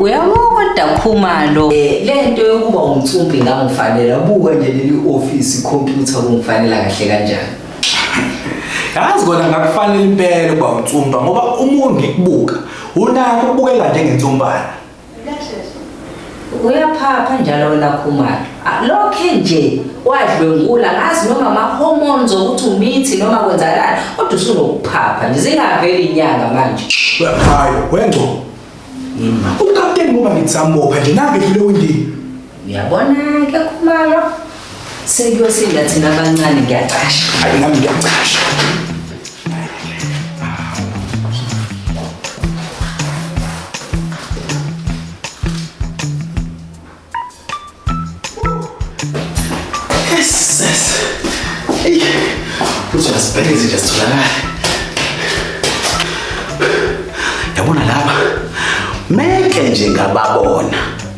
uyamukoda khumalo eh, le nto yokuba umcumbi ngangifanela buka nje leli ofisi ikhompyutha kungifanela kahle kanjani yazi kona ngakufanele impela ukuba unsumba ngoba umuntu ngikubuka unako ukubukeka njengensumbana uyaphapha njalo wena khumalo ah, lokhe nje wadlwengula ngazi noma ama-hormones okuthi umithi noma kwenzakalani kodwa usunokuphapha nje zingaveli inyanga manje uyakhaya wengcobo ukapteni ngoba ngitsamopha nje nange dlule windini Uyabona-ke khumalo sekuyosinda thina abancane ngiyacasha hayi nami ngiyacasha uzozibheke izinto zitholakala yabona laba meke nje ngababona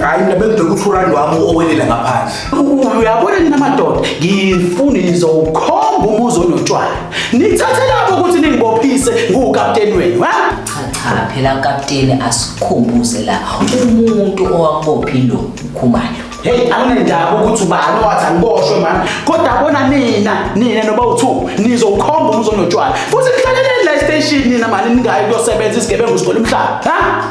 hayi mina bengibheka ukuthi urandi wami owelela ngaphandle uyabona nina madoda ngifuni nizowukhomba umuzi onotshwala nithathe lapho ukuthi ningibophise nguwukapteni wenu ha cha phela kapteni asikhumbuze la umuntu owakubophi lo ukhumalo heyi anginendaba ukuthi ubani owathi angiboshwe mani kodwa bona nina nina noba uthu nizowukhomba umuzi onotshwala futhi nihlaleleni la estation nina mani ningayi kuyosebenza isigebengu sigole umhlaba ha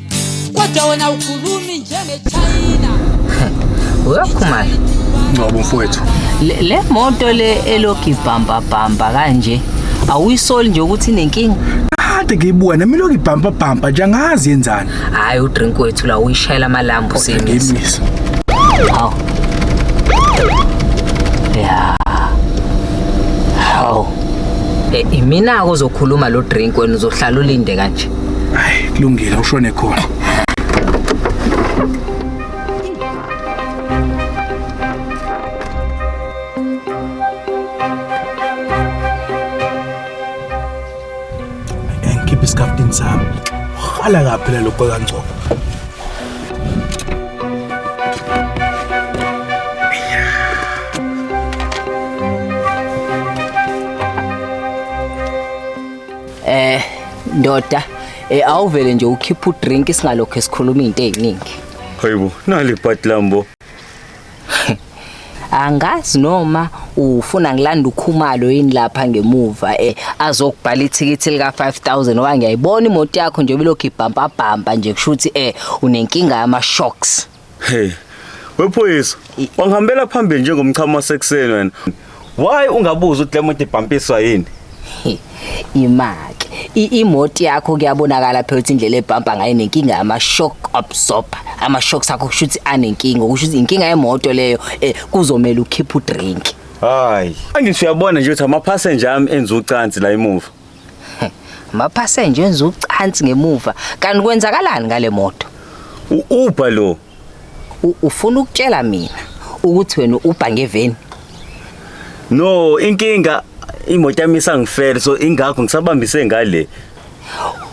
kodwa wena ukhulumi njengechina uyophuma ngcobo mfowethu le le moto le elogi bhamba bhamba kanje awuyisoli nje ukuthi inenkinga kade ngiyibuka nami lokhu ibhampa bhampa nje angazi yenzani hayi udrink wethu la uyishayela amalambu sengisa ngimisa hawu ya hawu Eh, imina-ke ozokhuluma lo drink wena uzohlala ulinde kanje Hayi, kulungile ushone khona. Ngikhiphe isikafutini sami. Hala kaphi la lokho kaNgcobo? Eh ndoda eh awuvele nje ukhipha udrink singalokho esikhuluma izinto eziningi. Hayibo nali part lambo. Angazi noma ufuna ngilanda ukhumalo yini lapha ngemuva eh azokubhala ithikithi lika 5000 owa ngiyayibona imoto yakho nje bilokhu ibhampa bhampa nje kushuthi eh unenkinga yama shocks. Hey. Wephoyisa, wangihambela phambili njengomchamo wasekuseni wena. Why ungabuza ukuthi lemoto ibhampiswa yini? Imake. Imoto yakho kuyabonakala phela ukuthi indlela ebhampa ngayo nenkinga ama shock absorber. Ama shocks akho kusho ukuthi anenkinga, kusho ukuthi inkinga yemoto leyo eh, kuzomela ukhiphe udrink. Hayi. Angithi uyabona nje ukuthi ama passenger ami enza ucansi la emuva. Amaphasenja enza ucansi ngemuva. Kanti kwenzakalani ngale moto? U-Uber lo. U- Ufuna ukutshela mina ukuthi wena ubha ngeveni. No, inkinga imoto yami isangifela so ingakho ngisabambise ngale.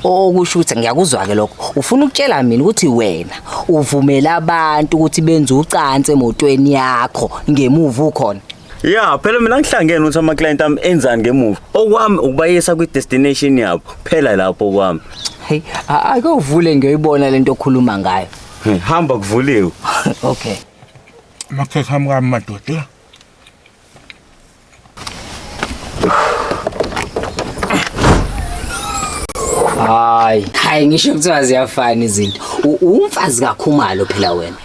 Okusho ukuthi ngiyakuzwa ke lokho. Ufuna ukutshela mina ukuthi wena uvumela abantu ukuthi benze ucansi emotweni yakho ngemuva ukhona. ya phela mina ngihlangene ukuthi ama-client ami enzani ngemuva okwami ukubayisa kwi-destination yabo phela lapho okwami heyi ake uvule ngiyoyibona le nto okhuluma ngayo Hey, hamba kuvuliwe okay amakhekhe ami kami madoda hayi hayi ngisho kuthiwa ziyafana izinto U- uwumfazi kakhumalo phela wena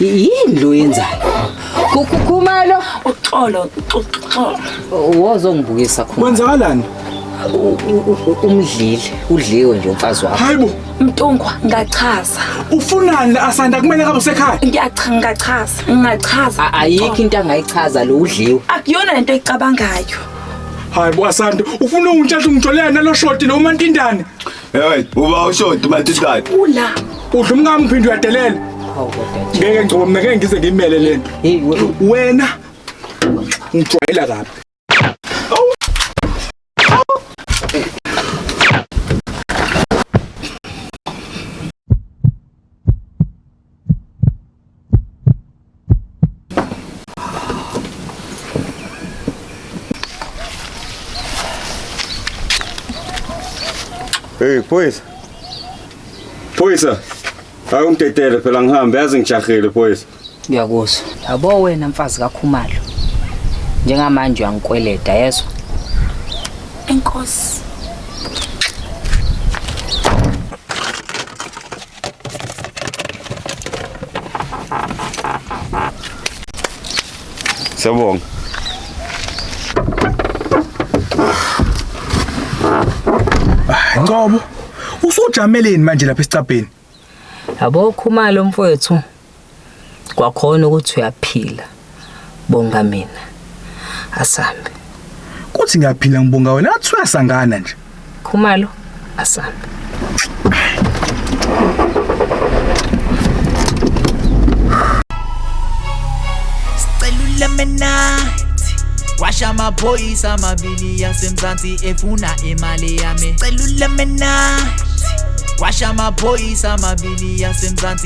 yini lo yenzayo kukhumalo uxolo uxolo wozongibukisa khona kwenzakalani umdlile udliwe nje umfazi wakho hayibo mntungwa ngachaza ufunani la asanda kumele kabe usekhaya ngiyachaza ngachaza ngachaza ayikho into angayichaza lo udliwe akuyona into ecabangayo hayibo asanda ufuna untshatha ungitholea nalo shoti lo umantindane Hey, uba ushodi matithatha. Ula. Udla umkami uphinde uyadelela. Ngeke ngcobo mina ngeke ngize ngimele lento. Wena ngijwayela kabi. Hey phoyisa. Phoyisa. Awungidedele phela ngihambe yazi ngijahile phoyisa. Ngiyakuzwa. Yabo wena mfazi kaKhumalo. Njengamanje uyangikweleda yezwa. Enkosi. Siyabonga. Ngobo usujameleni manje lapha esicabheni? Yabo khumalo mfowethu. kwakhona ukuthi uyaphila bonga mina asambe kuthi ngiyaphila ngibonga wena athi uyasangana nje khumalo asambe Lemonade washa amaphoyisa amabili yasemzansi efuna imali yami cela ulemonade washa amaphoyisa amabili yasemzansi